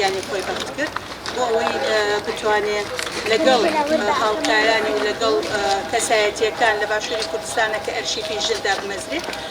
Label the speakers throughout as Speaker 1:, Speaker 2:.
Speaker 1: گیانی خۆی بەخت کرد بۆ ئەوەی بتوانێت لەگەڵ هاوکارانی و لەگەڵ کەسایەتیەکان لە باشووری کوردستانە کە ئەرشیفی ژندا بمەزرێت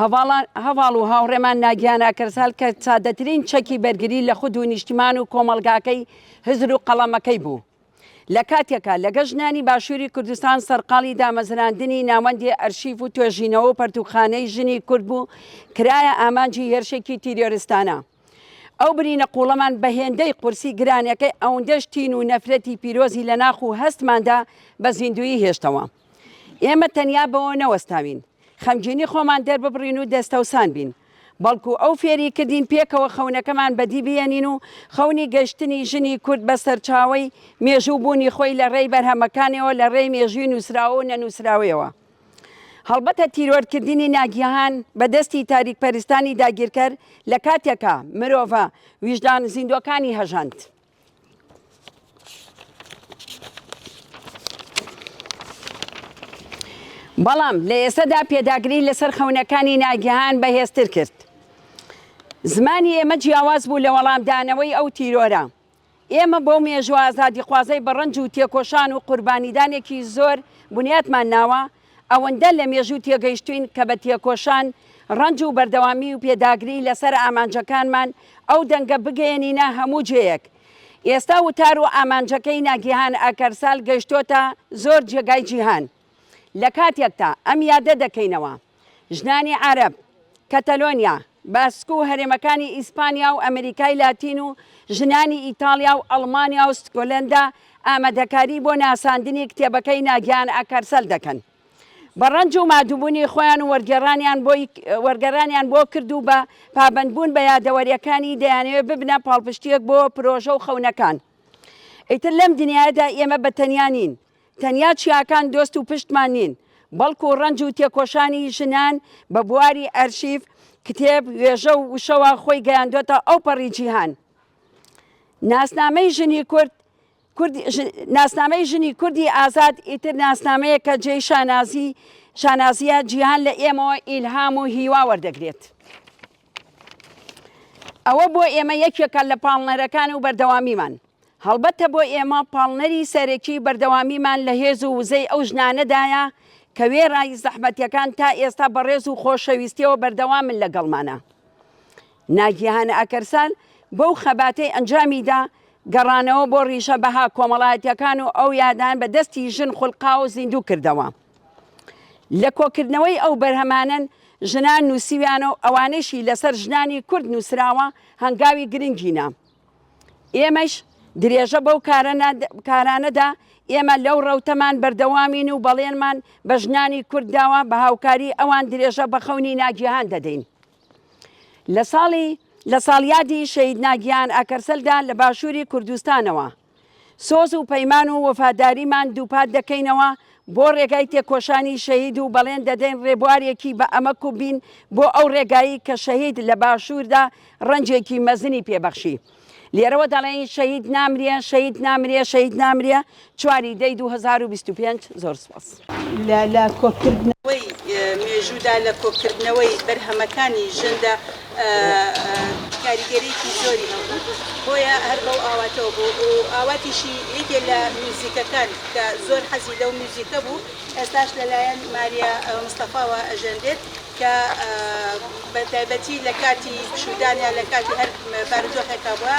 Speaker 2: هەڤاڵ و هاوڕێمان ناگیان ئاکرزهال کە سادەترین چەکی بەرگری لە خود و نیشتمان و کۆمەڵگاکەی هزر و قەڵەمەکەی بوو، لە کاتێکا لەگەڵ ژنانی باشووری کوردستان سەرقاڵی دامەزراندنی ناوەندی ئەرشیف و توێژینەوە و پەرتووکخانەی ژنی کورد بوو، کرایە ئامانجی هێرشێکی تیرۆریستانە. ئەو برینە قووڵەمان بە هێندەی قورسی گرانەکەی ئەوندەش تین و نەفرەتی پیرۆزی لە ناخ و هەستماندا بە زیندوویی هێشتەوە. ئێمە تەنیا بەوە نەوەستاوین خەمگینی خۆمان دەرببڕین و دەستەوسان بین، بەڵکو ئەو فێری کردین پێکەوە خەونەکەمان بەدی بهێنین و خەونی گەشتنی ژنی کورد بە سەرچاوەی مێژوو بوونی خۆی لە ڕێی بەرهەمەکانیەوە لە ڕێی مێژووی نووسراوە و نەنووسراوەیەوە هەڵبەتە تیرۆرکردنی ناگیهان بە دەستی تاریکپەرستانی داگیرکەر لە کاتێکا مرۆڤە ویژدان زیندووەکانی هەژاند. بەڵام لە ئێستادا پێداگری لەسەر خەونەکانی ناگەهان بەهێزتر کرد زمانی ئێمە جیاواز بوو لە وەڵامدانەوەی ئەو تیرۆرە ئێمە بۆ مێژوە ئازادیخوازەی بەڕەنج و تێکۆشان و قوربانیدانێکی زۆر بنیاتمان ناوە ئەوەندە لە مێژوو تێگەیشتووین کە بە تێکۆشان، ڕەنج و بەردەوامی و پێداگری لەسەر ئامانجەکانمان ئەو دەنگە بگەیەنینە هەموو جێیەک. ئێستا وتار و ئامانجەکەی ناگیهان ئاکارسال گەیشتۆتە زۆر جێگای جیهان. لە کاتێکتا ئەم یادە دەکەینەوە، ژنانی عارەب، کەتەلۆنیا، باسک و هەرێمەکانی ئیسپانیا و ئەمریکای لاتین و ژنانی ئیتاڵیا و ئەڵمانیا و ستکۆلەندا ئامادەکاری بۆ ناساندنی کتێبەکەی ناگیان ئاکارسەل دەکەن بە ڕەنج و مادووبوونی خۆیان و وەرگێڕانیان بۆ کرد و بە پابەندبوون بە یادەوەریەکانی دەیانەوێت ببنە پاڵپشتیەک بۆ پرۆژە و خەونەکان ئیتر لەم دنیایەدا ئێمە بە تەنیا نین. تەنیا چیاکان دۆست و پشتمان نین، بەڵکو ڕەنج و تێکۆشانی ژنان بە بواری ئەرشیف، کتێب، وێژە و وشەوە خۆی گەیاندۆتە ئەوپەڕی جیهان. ناسنامەی ژنی کورد، کورد، ناسنامەی ژنی کوردی ئازاد ئیتر ناسنامەیەکە جێی شانازی، شانازییە، جیهان لە ئێمەوە ئیلهام و هیوا وەردەگرێت. ئەوە بۆ ئێمە یەکێکە لە پاڵنەرەکان و بەردەوامیمان. هەڵبەتە بۆ ئێمە پاڵنەری سەرەکی بەردەوامیمان لە هێز و وزەی ئەو ژنانەدایە کە وێڕای زەحمەتەکان تا ئێستا بە ڕێز و خۆشەویستیەوە بەردەوامن لەگەڵمانا. ناگیهان ئاکەرسال بەو خەباتەی ئەنجامیدا، گەڕانەوە بۆ ڕیشە بەها کۆمەڵایەتیەکان و ئەو یادان بە دەستی ژن خولقاو و زیندوو کردەوە. لە کۆکردنەوەی ئەو بەرهەمانەن ژنان نووسیویانە و ئەوانەشی لەسەر ژنانی کورد نووسراوە هەنگاوی گرنگینە. ئێمەش درێژە بەو کارانەدا، ئێمە لەو ڕەوتەمان بەردەوامین و بەڵێنمان بە ژنانی کورد داوە بە هاوکاری ئەوان درێژە بە خەونی ناگیهان دەدەین. لە ساڵی لە ساڵیادی شەهید ناگیهان ئاکەرسەلدا لە باشووری کوردستانەوە، سۆز و پەیمان و وەفاداریمان دووپات دەکەینەوە بۆ ڕێگای تێکۆشانی شەهید و بەڵێن دەدەین ڕێبوارێکی بە ئەمەک و بین بۆ ئەو ڕێگایی کە شەهید لە باشووردا ڕەنجێکی مەزنی پێ بەخشی. لێرەوە دەڵێین شەهید نامرێ، شەهید نامرێ، شەهید نامرێ، چواری دەی دوو هەزار و بیست و پێنج. زۆر سپاس. لە
Speaker 1: کۆکردنەوەی مێژوودا، لە کۆکردنەوەی بەرهەمەکانی ژندا کاریگەریی زۆری هەبوو، بۆیە هەر بەو ئاواتەوە بوو و ئاواتیشی یەکێ لە میوزیکەکان کە زۆر حەزی لەو میوزیکە بوو، ئێستاش لەلایەن ماریا مستەفاوە ئەژەنرێت کە بە تایبەتی لە کاتی پشوودان یا لە کاتی هەر بارودۆخێکا بووە،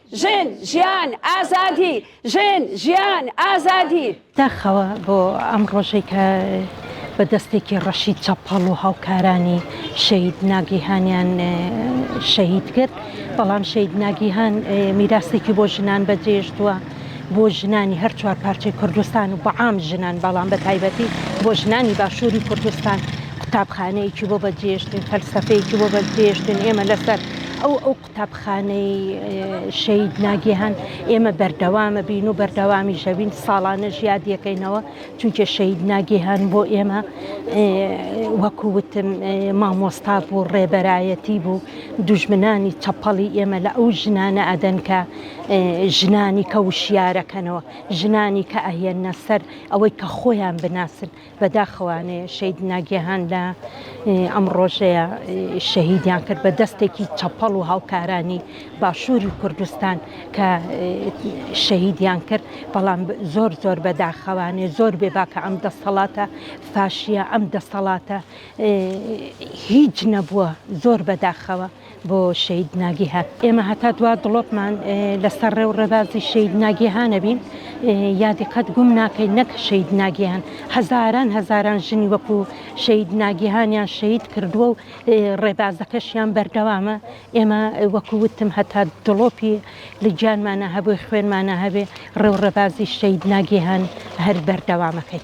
Speaker 2: ژن، ژیان، ئازادی! ژن، ژیان، ئازادی! داخەوە بۆ
Speaker 3: ئەم ڕۆژەی کە بە دەستێکی ڕەشی چەپەڵ و هاوکارانی شەهید ناگیهانیان شەهید کرد، بەڵام شەهید ناگیهان میراسێکی بۆ ژنان بەجێهێشتووە، بۆ ژنانی هەر چوار پارچەی کوردستان و بەعام ژنان، بەڵام بە تایبەتی بۆ ژنانی باشووری کوردستان قوتابخانەیەکی بۆ بەجێهێشتین، فەلسەفەیەکی بۆ بەجێهێشتین، ئێمە لەسەر ئەو قوتابخانەی شەید ناگیهان ئێمە بەردەوامە بین و بەردەوامی شەوین ساڵانە ژیادیەکەینەوە چونکە شەید ناگیهان بۆ ئێمە وەکووتم مامۆستا بوو ڕێبەرایەتی بوو دوژمنانی چەپەڵی ئێمە لە ئەو ژنانە ئەدەن کە ژنانی کە وشیارەکەنەوە ژنانی کە ئەهێنە سەر ئەوەی کە خۆیان بناسن بەداخەوانێ شەید ناگیهان لە ئەم ڕۆژەیە شەهیدیان کرد بە دەستێکی چەپەڵ و هاوکارانی باشووری کوردستان کە شەهیدیان کرد بەڵام زۆر زۆر بەداخەوانێ زۆر بێ باکە ئەم دەستەڵاتە فاشیە ئەم دەستەڵاتە هیچ نەبووە زۆر بەداخەوە بۆ شەید ناگیهان ئێمە هەتا دوا دڵۆپمان لەسەر ڕێ و ڕێبازی شەید ناگیهانەبین یادی قەت گوم ناکەی نەک شەید ناگیهان هەزاران هەزاران ژنی وەکو شەید ناگیهانیان شەید کردووە و ڕێبازەکەشیان بەردەوامە ئێمە وەکووتم هەتا دڵۆپی لە گیانمانە هەبووی خوێنمانە هەبێ ڕێ و ڕێبازی شەید ناگیهان هەر بەردەوامەکەی